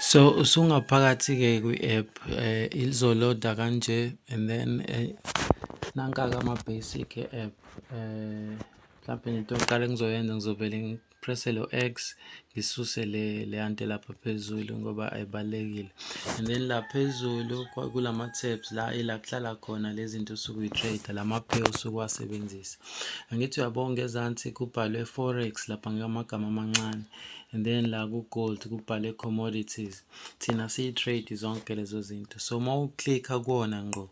So usungaphakathi-ke kwi-app eh ilizoloda kanje and then eh nanka-ke ama-basic e-app eh mhlampe into yokuqala engizoyenza ngizovele press lo x ngisuse le le ante lapha phezulu ngoba ayibalekile and then la phezulu kulama tabs la ila kuhlala khona lezinto usuku uyitrade lama pay usuku wasebenzisa angithi uyabonga ezansi kubhalwe forex lapha ngamagama amancane and then la ku gold kubhalwe commodities thina siyi trade zonke lezo zinto so uma uclicka kuona ngqo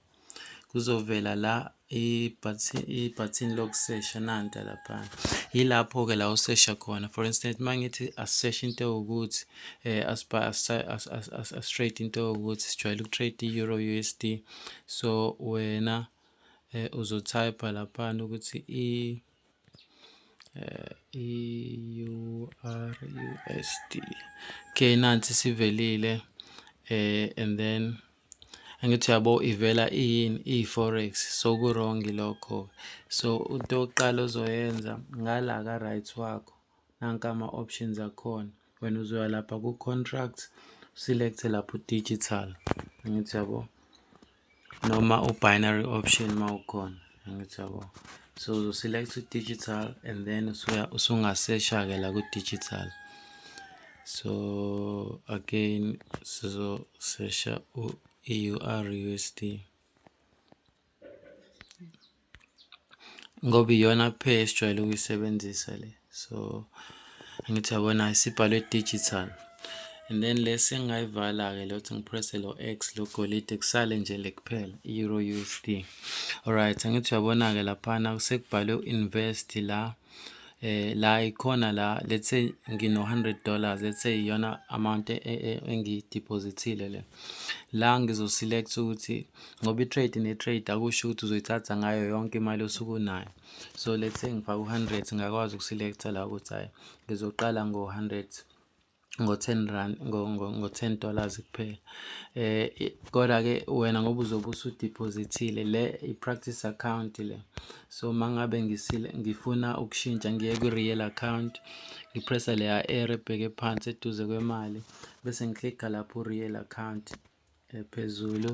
kuzovela la ibhathini lokusesha nanta laphana yilapho-ke la usesha khona for instance uma ngithi asiseshe into ewukuthi um asitrade into ewukuthi sijwayele ukutrade i-euro u s d so wena um uzotypha laphana ukuthi i um i-ur u s d okay nansi sivelile um and then Angithi uyabo ivela iyini iyi-forex so ku-wrong lokho. So into yokuqala ozoyenza ngala ka-right wakho nanka ama-options akhona. Wena uzoya lapha ku-contracts u-select-e lapho u-digital angithi uyabo noma u-binary option uma ukhona. angithi yabo so uzoselect u-digital and then usungasesha-ke la ku-digital so again sizosesha i-ur usd ngoba iyona pay esijwayele ukuyisebenzisa le so angithi yabona isibhalwe digital and then lesi engingayivala-ke lokuthi ngipresse lo x logolide kusale nje le kuphela i-euro u s d alright angithi uyabona-ke laphana sekubhalwe u-invest la eh la ikhona la let's say ngino 100 dollars let's say iyona amount e, e, e, engiyidepositile le la ngizo select ukuthi ngoba i trade ne trade akusho ukuthi uzoyithatha ngayo yonke imali osuku nayo so let's say ngifaka u-hundred ngakwazi ukuselekta la ukuthi hhayi ngizoqala ngo-hundred ngo-ten rand ngo-ten dollars kuphela eh kodwa-ke wena ngoba uzobe usudiphozithile le i-practice account le so uma ngabe ngifuna ukushintsha ngiye kwi-real account ngipressa leya ere ebheke phansi eduze kwemali bese ngiklikha lapho real account ephezulu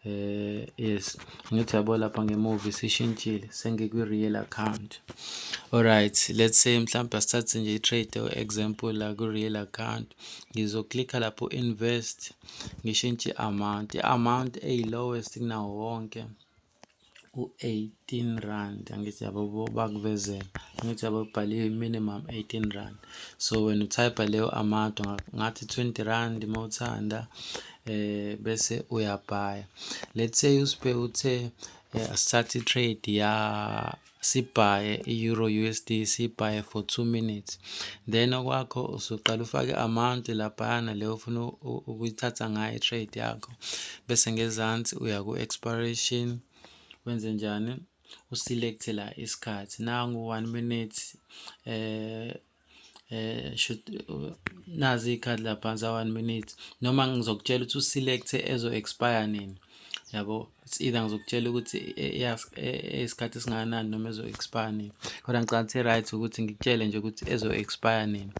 eh yes ngithi yabo lapha ngemuva isishintshile sengikwi-real account alright let's say mhlawumbe asithathe nje i-trade example la kwi-real account ngizoklikha lapho invest ngishintshe i-amount i-amount eyi-lowest kunawo wonke u-eighteen rand angithi yabo bakuvezela angithi yabo kubhaliwe minimum eighteen rand so wena uthayipha leyo amount ngathi twenty rand uma uthanda eh bese uyabhaya let's say usiphe uthe eh, asithathe itrade ya sibhaye i-euro USD sibhaye for two minutes then okwakho usuqala ufake amount laphayana le ofuna ukuyithatha ngayo i-trade yakho bese ngezansi uya ku-expiration wenze njani uselect la isikhathi nangu one minute eh eh should nazi ikhadi la phansi 1 minute noma ngizokutshela ukuthi uselect ezo expire nini yabo it's either ngizokutshela ukuthi isikhathi e, e, esingakanani noma ezo expire nini kodwa ngicabanga ukuthi right ukuthi ngikutshele nje ukuthi ezo expire nini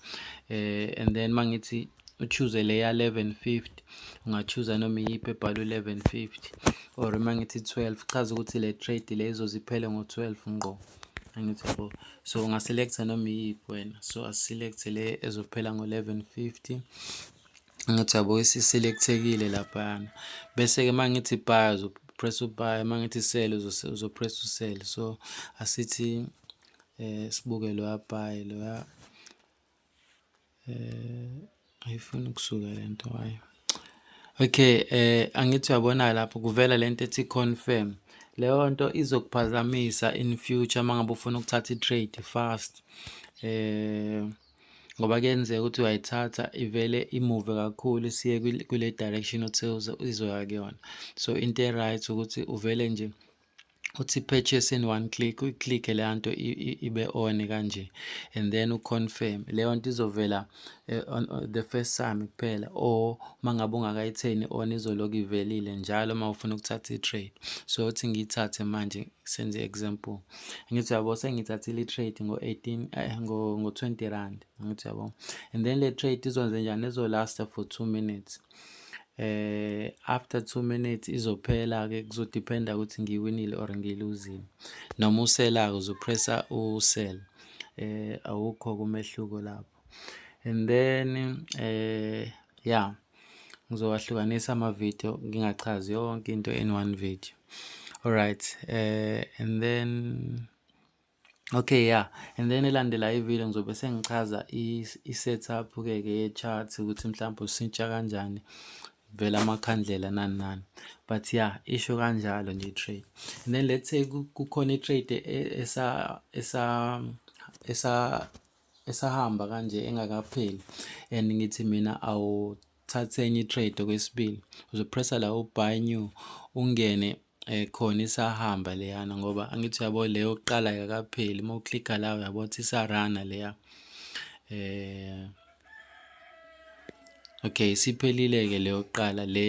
eh and then mangithi uchuze leya 1150 ungachuza noma iyiphi ebhalwe 1150 or uma ngithi 12 chaza ukuthi le trade le izoziphele ngo-12 ngqo angithi bo so ungaselecta noma iyiphi wena so asiselect le ezophela ngo-1150 angithi yabo isiselectekile laphana bese-ke uma ngithi buy uzopress ubuy uma ngithi sell uzopress usell so asithi um sibuke loya buy loya Eh, ayifuni ukusuka le nto wayo. Okay, eh angithi uyabona lapho kuvela lento ethi confirm. Leyo nto izokuphazamisa in future mangabe ufuna ukuthatha i-trade fast. Eh ngoba kuyenzeka ukuthi uyayithatha ivele imove kakhulu siye kule direction othi izoya kuyona. So into e-right ukuthi uvele nje uthi purchase in one click uyiclick leya nto ibe on kanje and then uconfirm leyo nto izovela eh, on, on the first time kuphela or mangabe ungakayitheni on izoloku ivelile njalo uma ufuna ukuthatha i-trade so uthi ngiyithathe manje senze example ngithi yabo sengithathile i-trade ngo-18 eh, ngo-20 rand ngithi yabo and then le trade izonze njani izolasta for 2 minutes eh after 2 minutes izophela ke kuzodependa ukuthi ngiwinile or ngiluzile noma usela uzopressa usell eh awukho kumehluko lapho and then eh yeah ngizowahlukanisa ama video ngingachazi yonke into in one video alright eh and then Okay yeah and then elandelayo ivideo ngizobe sengichaza i-setup ke ke ye-chart ukuthi mhlawumbe usintsha kanjani vela amakhandlela nani nani but yeah isho kanjalo nje trade and then let's say kukhona i-trade e, esa esa esa esahamba kanje engakapheli and ngithi mina awu thatha enye i-trade okwesibili uzopressa la u-buy new ungene um khona isahamba leyana ngoba angithi uyabo le yokuqala yakapheli uma uklikha la uyabo ukuthi isarana leya um okay isiphelile-ke le yokuqala le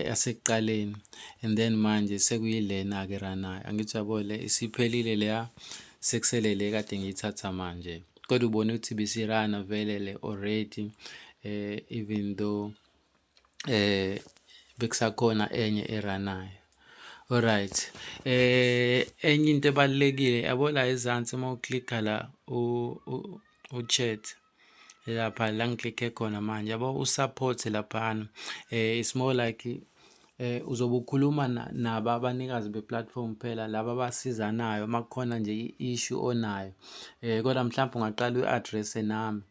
yasekuqaleni and then manje sekuyilena-ke ranayo angithi uyabo le isiphelile leya sekusele le kade ngiyithatha manje kodwa ubone ukuthi bisirana vele le already eh even though eh bekusakhona enye eranayo alright eh enye into ebalekile yabo la ezansi uma uklikha la u u chat lapha la ngiklikhe khona manje yabo u support lapha eh it's more like Eh uzobe ukhuluma naba abanikazi be-platform phela laba abasizanayo uma kukhona nje i-issue onayo eh kodwa mhlawumbe ungaqala uyi-address-e nami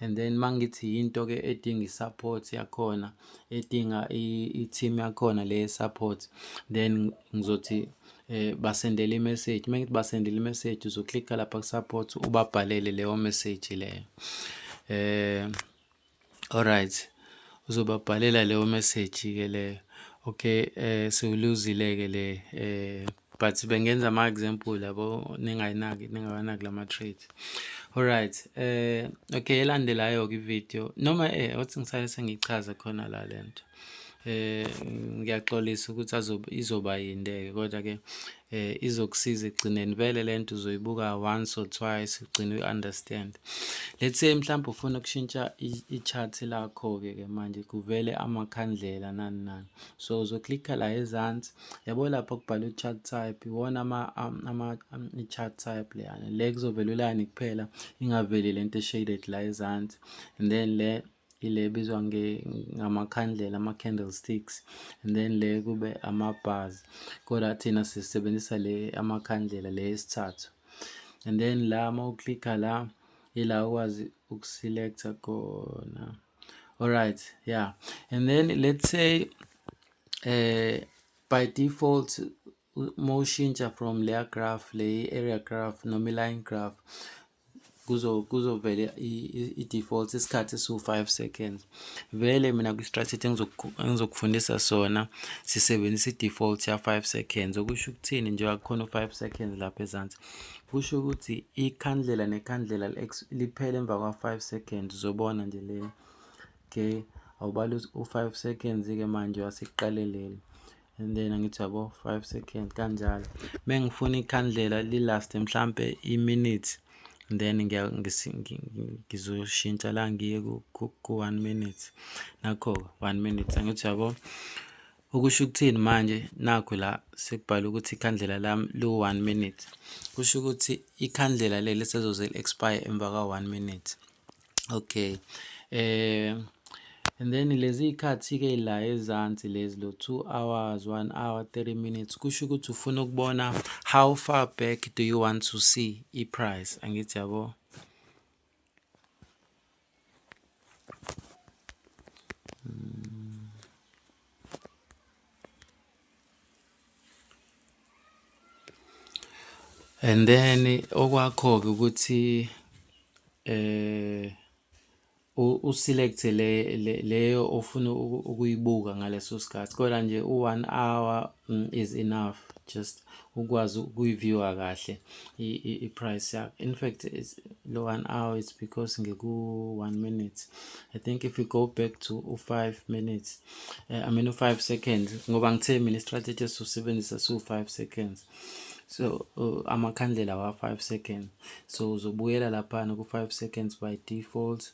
and then uma ngithi yinto-ke edinga i-support yakhona edinga i-team yakhona le support then ngizothi eh basendele i-message uma ngithi basendele i-message uzoklikha lapha ku-support ubabhalele leyo message leyo eh Alright. Uzobabhalela leyo message ke leyo. Okay, eh siwuluzile ke le eh but bengenza ama example yabo ningayinaki ningawanaki lama traits. Alright. Eh okay elandelayo ke video noma eh othi ngisale sengichaza khona la lento. eh ngiyaxolisa ukuthi azoba izoba yinde ke kodwa ke eh izokusiza ekugcineni vele lento uzoyibuka once or twice ugcine u understand let's say mhlawumbe ufuna ukushintsha i chart lakho ke ke manje kuvele amakhandlela nani nani so uzoklikha la ezansi yabo lapho kubhalwe chart type iwona ama ama i chart type leyana le kuzovela ulani kuphela ingaveli lento shaded la ezansi and then le ile ebizwa ngamakhandlela ama-candlesticks and then le kube ama-bars kodwa thina sisebenzisa le amakhandlela le yesithathu and then la uma uklikha la ila ukwazi ukusilektha khona alright yeah and then let's say eh by default uma ushintsha from leya graph le area graph noma i-line graph kuzo kuzovele i-default isikhathi esiwu-5 seconds vele mina kwi-strategy engizokufundisa sona sisebenzisa i-default ya-5 seconds okusho ukuthini njengoba kukhona u-5 seconds lapha ezansi kusho ukuthi ikhandlela nekhandlela liphele emva kwa-5 seconds uzobona nje le okay awubala u-5 seconds-ke manje wasekuqaleleni and then angithi yabo 5 second kanjalo mengifuna ikhandlela lilast mhlambe iminute then ngizoshintsha la ngiye ku-one minute nakho one minute angithi yabo Ukusho ukuthini manje? Nakhu la sekubhalwe ukuthi ikhandlela lami liwu-one minute. Kusho ukuthi ikhandlela leli sezoze li-expire emva kwa-one minute. Okay. Eh and then lezi ikhathi ke la ezansi lezi lo 2 hours 1 hour 30 minutes kusho ukuthi ufuna ukubona how far back do you want to see i price angithi yabo And then okwakho-ke ukuthi u-select-e le leyo ofuna ukuyibuka ngaleso sikhathi, kodwa nje u-one hour Mm, is enough just ukwazi ukuyiviewa kahle i-price yakho in fact lo one hour it's because ngiku-one minute i think if we go back to u-five minutes uh, i mean u-five seconds ngoba ngithe mina istrategy esizosebenzisa siwu-five seconds so uh, amakhandlela wa-five seconds so uzobuyela laphana ku-five seconds by default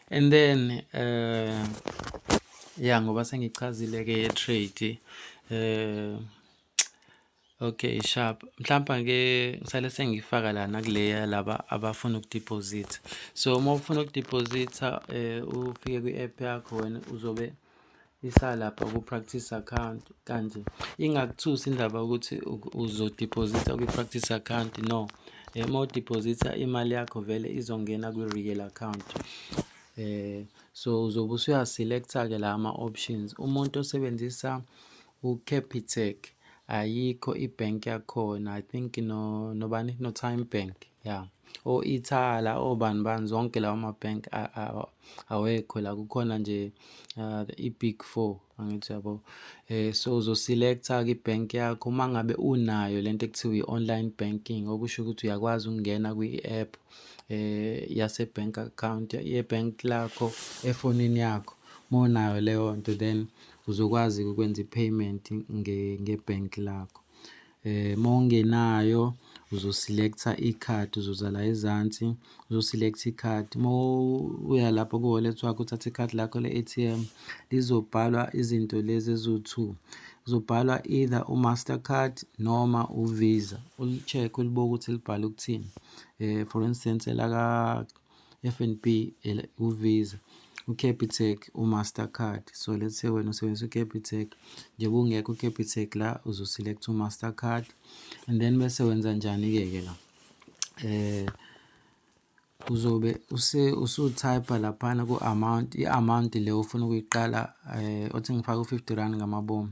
and then uh, ya ngoba sengichazile-ke ye-trade uh, okay sharp mhlawumbe ke ngisale sengifaka lana kuleya laba abafuna ukudeposit so uma ufuna ukudeposita um eh, ufike kwi-app yakho wena uzobe isalapha ku-practice account kanje ingakuthusi indaba ukuthi uzodiphozitha kwi-practice account no uma udiphozitha imali yakho vele izongena kwi-real account eh so uzobe usuyaselekta-ke la ama-options umuntu osebenzisa ucapitec ayikho i-bank yakhona i think no nobani no-time bank Ya. O-Ithala, obani bani zonke lawa ma-bank awekho la kukhona nje uh, i-big four angithi yabo eh so uzoselecta ke ibank yakho uma ngabe unayo lento ekuthiwa i-online banking okusho ukuthi uyakwazi ukungena kwi-app eh yase-bank account ye-bank lakho efonini yakho uma unayo leyo nto then uzokwazi ukwenza i-payment nge-bank lakho Eh, uma ungenayo uzoselecta i-card uzoza la ezansi uzoselecta i-card uma uya lapho ku-wallet wakho uthatha i-card lakho le-atm lizobhalwa izinto lezi eziwu-two kuzobhalwa either u-master card noma u-visa uli-check ulibuke ukuthi libhale ukuthini um for instance elaka FNB, uVisa, uCapitec, uMastercard. So let's say wena usebenzisa uCapitec, njengoba ungekho uCapitec la uzoselect uMastercard and then bese wenza njani-ke ke la eh uzobe use usutype laphana ku-amount i-amount le ufuna ukuyiqala eh othi ngifake u-fifty rand ngamabomu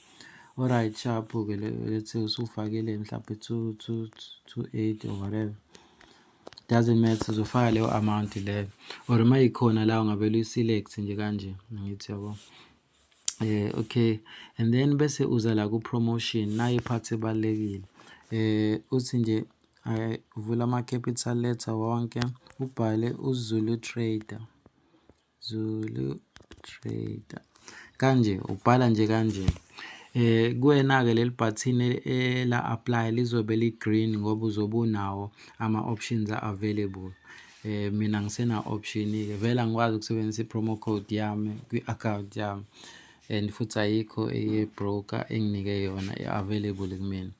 Alright, sharp-u ke let's say usufakile mhlawumbe 2.8 or whatever doesn't matter uzofaka leyo amount leyo or uma ikhona la ungavele uyiselect nje kanje ngithi yabo eh okay and then bese uza la ku promotion nayo iphathi ebalekile eh uthi nje eh, vula ama capital letter wonke ubhale uzulu trader Zulu Trader. Kanje ubhala nje kanje. Eh kuwena ke leli button e, e, la apply lizobe li green ngoba uzobe unawo ama options available. Eh mina ngisena option ke vela ngikwazi ukusebenzisa promo code yami kwi account yami and futhi ayikho eye broker enginike yona available kumina.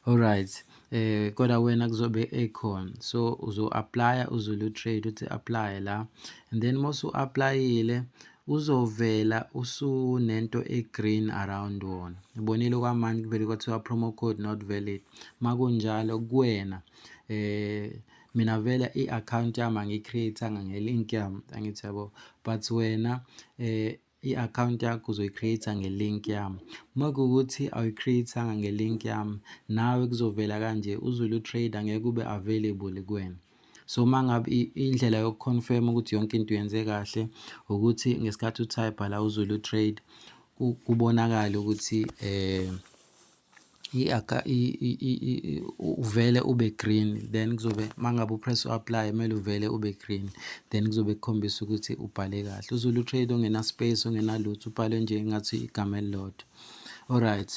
Alright. eh kodwa wena kuzobe ekhona so uzo apply uzulu trade uthi apply la and then mosu applyile uzovela usunento egreen around wona ibonile kwamanje kuvele kwathiwa promo code not valid makunjalo kuwena eh mina vele i-account yami angiyicreatanga ngelink yami angithi yabo but wena eh i-akhawunti yakho uzoyi-create-a nge-link yami. Uma kuwukuthi awuyi-create-anga nge-link yami, nawe kuzovela kanje uZulu Trader ngeke ube available kuwena. So uma ngabe indlela yoku-confirm ukuthi yonke into yenze kahle ukuthi ngesikhathi u-type la uZulu Trade kubonakale ukuthi eh Uvele ube green then kuzobe uma ngabe u-press u-apply kumele uvele ube green then kuzobe kukhombisa ukuthi ubhale kahle. UZulu Trade ongena-space ongenalutho ubhale nje ngathi igama elilodwa. Alright.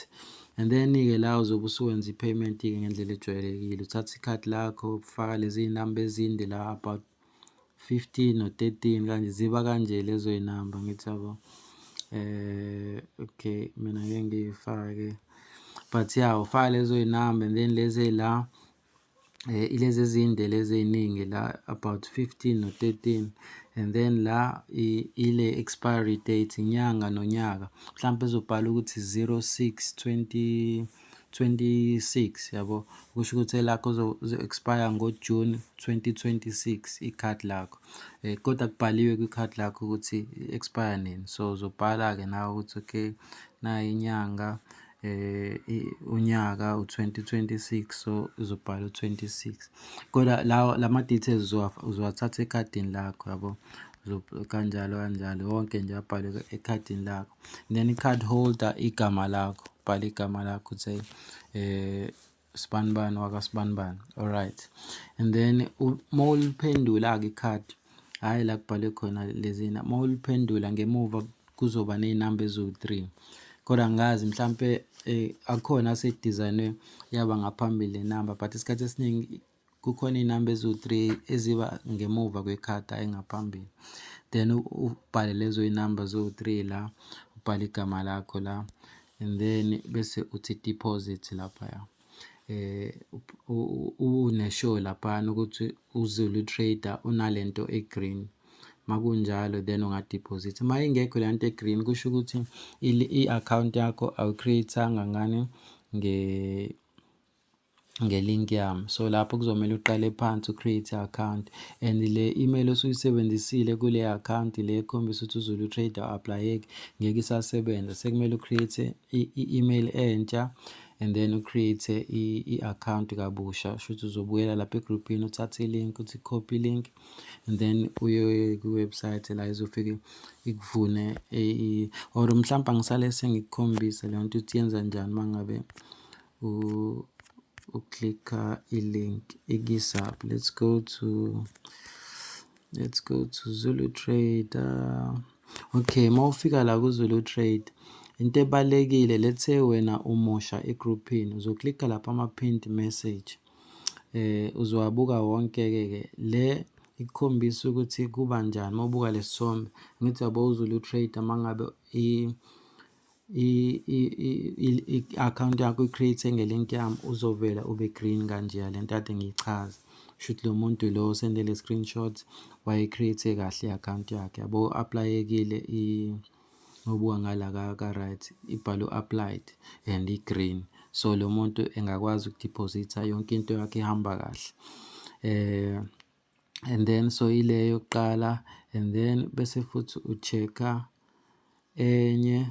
And then-ke la uzobe usuwenza i-payment-ke ngendlela ejwayelekile. Uthatha ikhadi lakho, ufaka lezi namba ezinde la about fifteen or thirteen kanje ziba kanje lezo y'namba ngithi yabo eh okay mina ngeke ngiyifake but ya ufaka lezo y'namba and then lezi ey'la eh, ilezi ezinde lezi ey'ningi la about fifteen or thirteen and then la ile expiry date inyanga nonyaka mhlawumbe ezobhala ukuthi 06 20 26 yabo kusho ukuthi elakho uzo-expire ngoJuni 2026 i-card lakho um kodwa kubhaliwe kwi-card lakho ukuthi i-expire nini so uzobhala-ke nawe ukuthi okay nayi inyanga eh unyaka u2026 so uzobhala u26 kodwa lawo lama details uzowathatha ekhadini lakho yabo kanjalo kanjalo wonke nje abhalwe ekhadini lakho then i-card holder igama lakho bhala igama lakho say eh sibanibani wakasibanibani alright and then uma uliphendula-ke i-card hhayi la kubhalwe khona lezina uma uliphendula ngemuva kuzoba nezinamba eziwu-three kodwa ngazi mhlampe eh, akhona asedizayinwe yaba ngaphambili le namba but isikhathi esiningi kukhona iy'namba eziwu-three eziba ngemuva kwekhadi hhayi ngaphambili then ubhale lezo y'namba ziwu-three la ubhale igama lakho la and then bese uthi deposit laphaya eh uneshow laphana ukuthi uzulu trader unalento egreen makunjalo then ungadeposit uma ingekho le nto egreen kusho ukuthi i-account yakho awucreate-anga ngani nge nge-link yami so lapho kuzomele uqale phansi u-create account and le email osuyisebenzisile kule account le ekhombisa ukuthi uzulu utrade u-aplayeki ngeke isasebenza sekumele u-create i-email entsha and then u-create i-account kabusha shuthi uzobuyela lapha egroupini uthathe i-link uthi copy link and then uye kwi-website la izofike ikuvune or mhlawumbe angisale sengikukhombise leyo nto ukuthi yenza njani uma ngabe u uklikha i-link ikisap let's go to let's go to zulu trader okay uma ufika la kuzulu trade into ebalekile let's say wena umusha egroupini uzoklikha lapha ama-pinned message eh uzowabuka wonke-ke ke le ikukhombisa ukuthi kuba njani uma ubuka lesithombe ngithi yabo uzulu trade uma ngabe i-akhawunti yakho uyi-create-e nge-link yami uzovela ube green kanjeya le nto kade ngiyichaza shuthi lo muntu lo osende le screenshot waye-create-e kahle i-akhawunti yakhe yabo u-aplayekile ngobuka ngala ka-right ibhalwe u-applied and i-green so lo muntu engakwazi ukudiphozitha yonke into yakhe ihamba kahle um and then so ile yokuqala and then bese futhi u-check-a enye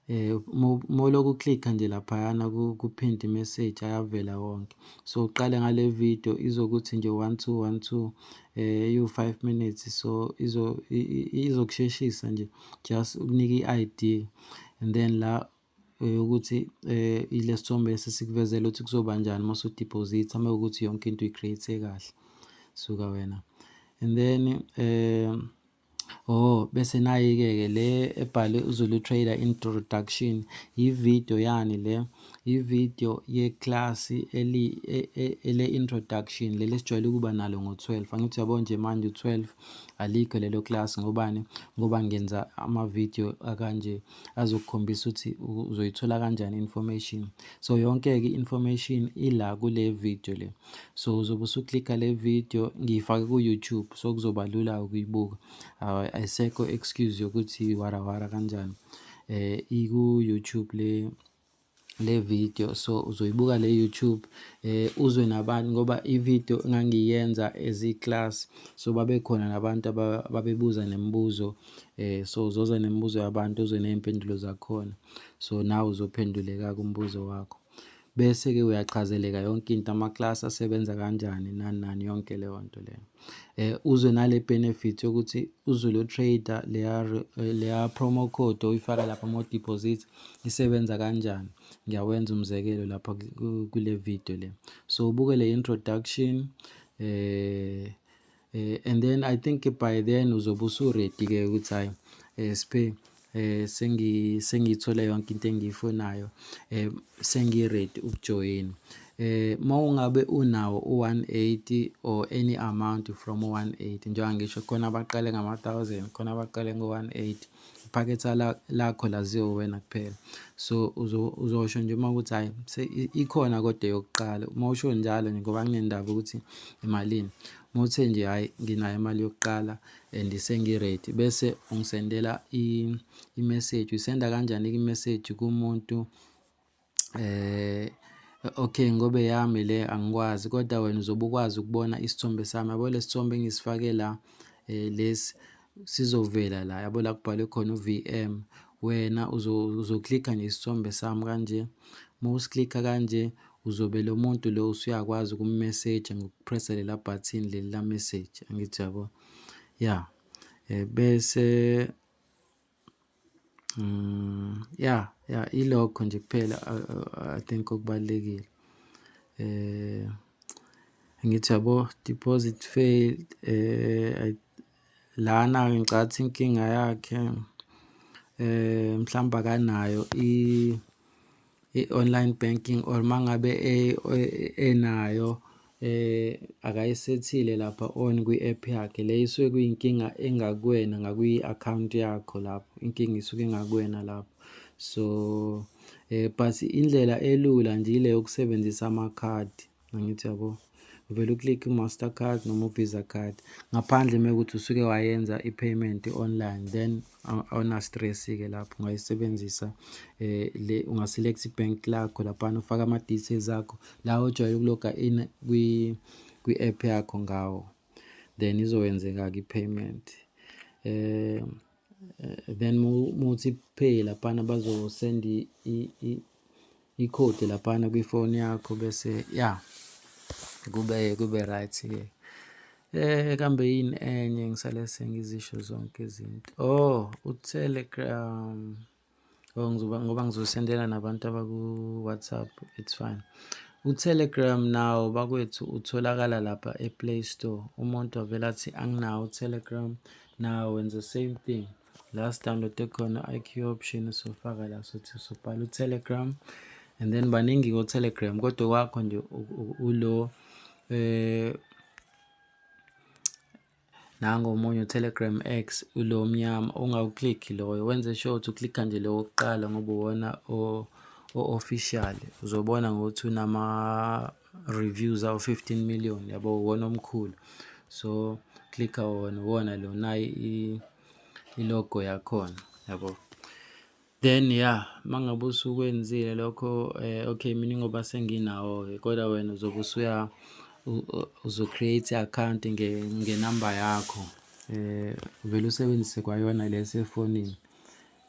eh moloku click nje laphayana ku pin message ayavela wonke so uqale ngale video izokuthi nje 1212 eh you 5 minutes so izo izokusheshisa nje just ukunike iID and then la Yokuthi ilesi thombe lesi esikuvezela ukuthi kuzoba njani uma usudiphozitha uma kuwukuthi yonke into uyi-create kahle suka wena and then um oh bese nayi-ke ke le ebhale uzulu trader introduction yividiyo yani le yividiyo yeklasi e, e, le-introduction leli esijwayele ukuba nalo ngo-12 angithi uyabo nje manje u-12 alikho lelo class ngobani ngoba ngenza amavidiyo akanje azokukhombisa ukuthi uzoyithola kanjani information so yonke-ke information ila kule video le so uzobe usuklikha le video ngiyifake ku-youtube so kuzoba lula ukuyibuka ayisekho excuse yokuthi warawara kanjani um iku-youtube le le video so uzoyibuka le YouTube eh uzwe nabantu ngoba i video ngangiyenza as i class so babekhona nabantu ababebuza nemibuzo eh so uzoza nemibuzo yabantu uzwe nezimpendulo zakhona so nawe uzophenduleka kumbuzo wakho bese ke uyachazeleka yonke into ama class asebenza kanjani nani nani yonke leyo nto leyo eh uzwe nale benefit yokuthi uzwe lo trader leya leya promo code oyifaka lapha mo deposits isebenza kanjani ngiyawenza umzekelo lapha kule video le so ubuke le introduction eh, eh and then i think by then uzobe usuready ke ukuthi hayi eh, spe eh sengi sengithole yonke into engiyifunayo eh sengi ready ukujoin eh mawungabe unawo u180 or any amount from 180 njengoba ngisho khona abaqale ngama 1000 khona abaqale ngo 180 iphaketha lakho laziwa uwena kuphela so uzosho nje uma ukuthi hhayi ikhona kodwa eyokuqala uma usho njalo nje ngoba kunendaba ukuthi imalini uma uthe nje hhayi nginayo imali yokuqala and sengi-ready bese ungisendela i-message uyisenda kanjani-ke i-message kumuntu eh okay ngobe yami le angikwazi kodwa wena uzobe ukwazi ukubona isithombe sami yabo lesithombe engisifake la eh lesi sizovela la yabo la kubhalwe khona uVM wena uzoklikha nje isithombe sami kanje uma usiklikha kanje uzobe lo muntu lo usuyakwazi ukumessage ngokupressa lela button leli la message angithi yabo ya eh, bese Mm, yeah, yeah, ilokho nje kuphela I think okubalulekile. Eh ngithi yabo deposit failed eh lana ngicathi inkinga yakhe eh mhlamba kanayo i i-online banking or uma ngabe e, e, enayo eh akayisethile lapha on kwi-app yakhe le isuke kuyinkinga engakuwena ngakwi-account yakho lapho inkinga isuke engakuwena lapho so eh but indlela elula nje ile yokusebenzisa amakhadi Angithi yabo uvele uclick i-master card noma u-visa card ngaphandle uma ukuthi usuke wayenza i-payment online then awuna-stress-ke lapho ungayisebenzisa eh le ungaselect i-bank lakho laphana ufaka ama-details akho la ojwayele ukuloga in kwi-app yakho ngawo then izokwenzeka-ke i-payment um Eh, then muthi pay laphana bazosend i-code laphana kwifoni yakho bese ya kube kube right ke eh kambe yini enye ngisale sengizisho zonke izinto oh utelegram Oh, ngizoba ngoba ngizosendela nabantu abaku-WhatsApp it's fine. U-Telegram nawo bakwethu utholakala lapha e-Play Store. Umuntu avele athi anginawo u-Telegram nawo wenza same thing. La sidownloade khona i-IQ option usofaka la sothi usubhala u-Telegram and then baningi ko-Telegram kodwa kwakho nje ulo eh Nango omunye uTelegram X ulo omnyama ungawuclick loyo wenze sure ukuthi uclicka nje lo wokuqala ngoba uwona o-official uzobona ngokuthi unama reviews awu 15 million yabo uwona omkhulu so clicka wona uwona lo nayi i-logo yakhona yabo. Then yeah, uma ngabe usukwenzile lokho eh, okay mina ngoba senginawo-ke kodwa wena uzobe usuya uzo-create i-account ngenamba yakho eh uvele usebenzise kwayona le esefonini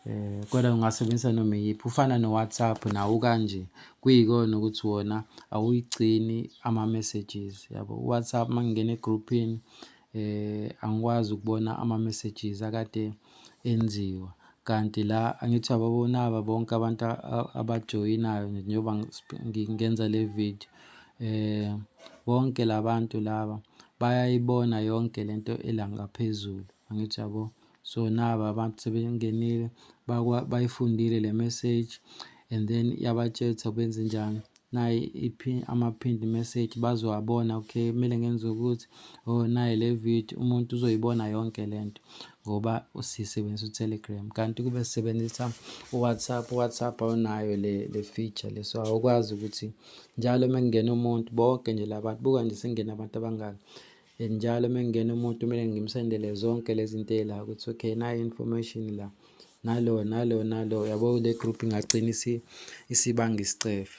eh kodwa ungasebenzisa noma iyiphi ufana no-whatsapp nawo kanje kuyikona ukuthi wona awuyigcini ama-messages yabo u-whatsapp uma ngingena egruphini Angikwazi ukubona ama-messages akade enziwa kanti la angithi uyababona laba bonke abantu abajoyinayo njengoba ngenza le video. Bonke la bantu laba bayayibona yonke le nto ela ngaphezulu, angithi uyabo? so naba abantu sebengenile bayifundile le message and then yabatshetha benze njani naye ama-pinned message bazowabona okay kumele ngenze ukuthi oh naye le video umuntu uzoyibona yonke le nto ngoba sisebenzisa utelegram kanti kube sisebenzisa uwhatsapp uwhatsapp awunayo le, le feature le so awukwazi ukuthi njalo uma kungena umuntu bonke nje labantu buka nje sengena abantu abangaki and njalo uma kungena umuntu kumele ngimsendele zonke lezi zinto la ukuthi okay nayo information la nalo nalo nalo yabo le group ingagcina isibanga isicefe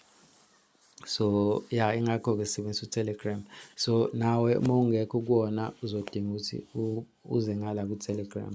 so ya ingakho-ke sisebenzisa utelegram so nawe uma ungekho kuwona uzodinga ukuthi uze ngala kutelegram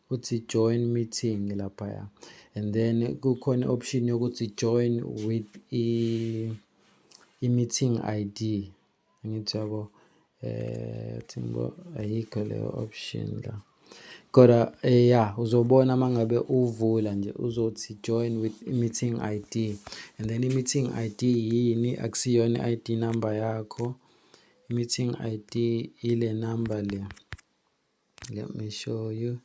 uthi join meeting laphaya and then kukhona option yokuthi join with i-meeting ID angithi yabo eh thingo ayikho leyo option la kodwa eh, ya uzobona mangabe uvula nje uzothi join with meeting ID and then i-meeting ID yini akusiyona i-ID number yakho i-meeting ID ile number le Let me show you.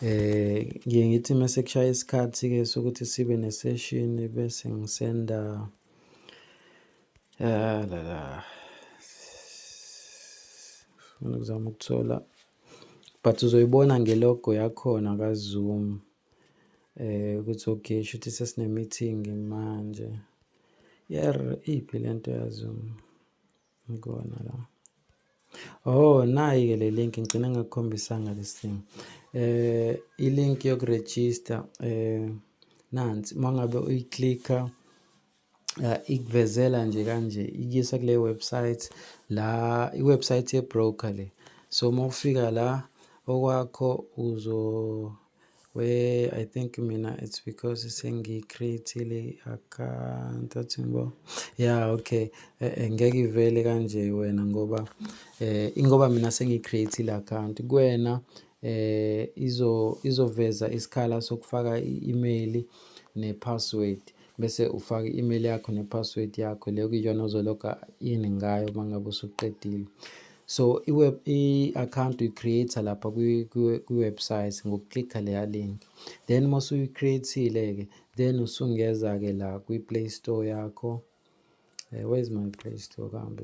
Eh ngiye ngithi mase kushaya isikhathi ke sokuthi sibe ne session bese ngisenda eh la la. Ngifuna ukuzama ukuthola but uzoyibona ngelogo yakhona ka Zoom. Eh ukuthi okay shuthi sesine meeting manje. Yer iphi lento ya Zoom? Ngikona la. Oh, nayi-ke le link ngigcine ngakukhombisanga this thing. Eh, i-link yokuregister eh nansi mangabe uyiclicka eh, ikuvezela nje kanje ikuyisa kule website la i-website ye-broker le. So uma ufika la okwakho uzo We, I think mina it's because sengi-create-ile account athi ngibo. Yeah, okay. Eh, eh, ngeke ivele kanje wena ngoba eh ingoba mina sengi-create-ile account kuwena eh izo izoveza isikhala sokufaka i-email ne-password. bese ufaka i-email yakho ne-password yakho le kuyiyona ozologa in ngayo uma ngabe usuqedile so i-web i-account uyi-create-a lapha kwi-website ngokuklikha leya link then uma usuyi-create-ile-ke then usungeza-ke la kwi-play store yakho uh, where is my play store kambe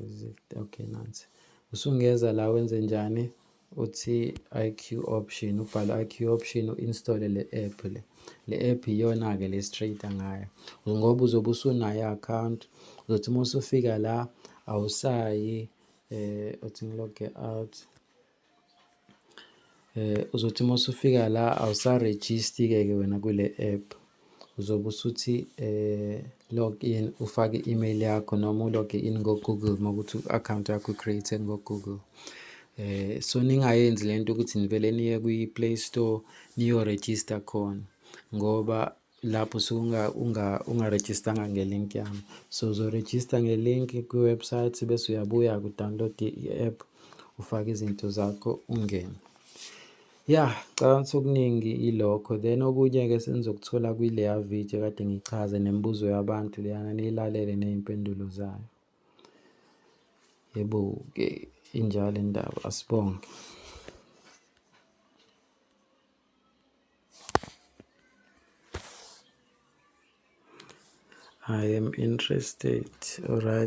okay nansi usungeza la wenze njani uthi IQ option ubhala IQ option uinstall le app le le app iyona ke le straight ngayo ngoba uzobe usunayo account uzothi uma usufika la awusayi eh uthi ngilog out eh uzothi uma usufika la awusaregister ke wena kule app uzobe usuthi eh, log in ufake i-email yakho noma uloge in ngo-google uma ukuthi u-account yakho create ngo-google eh so ningayenzi lento ukuthi nivele niye kwi-play store niyo-register khona ngoba lapho suke ungarejistanga nge-link yami so uzorejista nge-link kwi-website bese uyabuya ku-download i-app ufake izinto zakho ungene Ya, ngicabanga ukuthi okuningi ilokho then okunye-ke senizokuthola kwileya video kade ngichaze nemibuzo yabantu leyana niyilalele ney'mpendulo zayo. Yebo-ke injalo indaba asibonge. I am interested. All right.